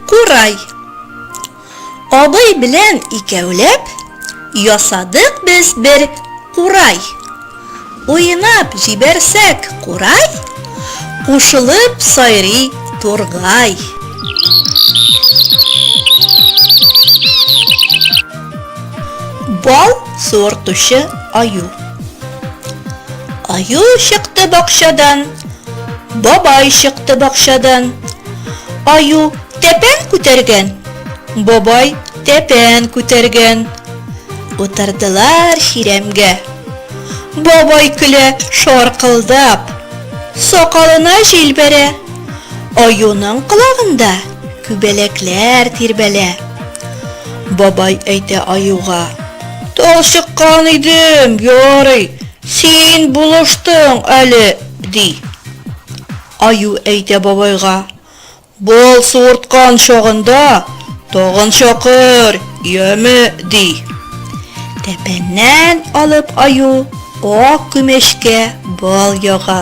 Курай. Абый белән икәүләп ясадык без бер курай. Уйнап җибәрсәк курай, кушылып сайрый тургай. Бал суыртучы аю. Аю чыкты бакчадан, бабай чыкты бакчадан. Аю тәпән күтәргән, бабай тәпән күтәргән. Утырдылар чирәмгә. Бабай көлә шаркылдап, сакалына җил бәрә. Аюның колагында Күбәләкләр тирбәлә. Бабай әйтә аюга. Талчыккан идем, ярый, син булыштың әле, ди. Аю әйтә бабайга. Бал суырткан чагында тагын чакыр, яме, ди. Тәпәннән алып аю ак күмәчкә бал яга.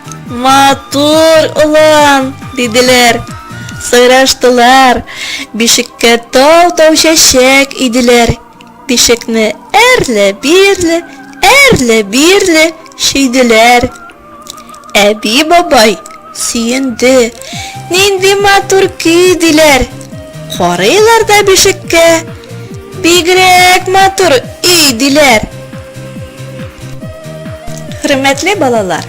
Матур улан, диделәр. Сайраштылар. Бишеккә тау-тау чәчәк иделәр. Бишекне әрле-бирле, әрле-бирле шиделәр. Әби бабай сөенде. Нинди матур көй диләр. Карыйлар да бишеккә. Бигрәк матур өй диләр. Хөрмәтле балалар,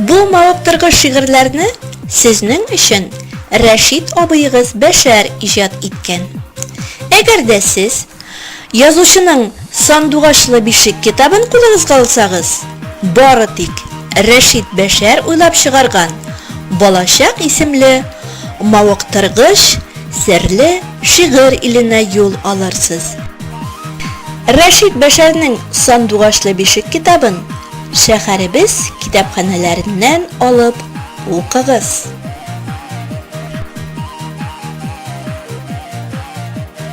бу мавыктыргыч шигырьләрне сезнең өчен Рәшит абыегыз Бәшәр иҗат иткән. Әгәр дә сез язучының Сандугачлы бишек китабын кулыгызга алсагыз, бары тик Рәшит Бәшәр уйлап чыгарган Балачак исемле мавыктыргыч серле шигырь иленә юл алырсыз. Рәшит Бәшәрнең Сандугачлы бишек китабын шәһәребез китапханәләреннән алып укыгыз.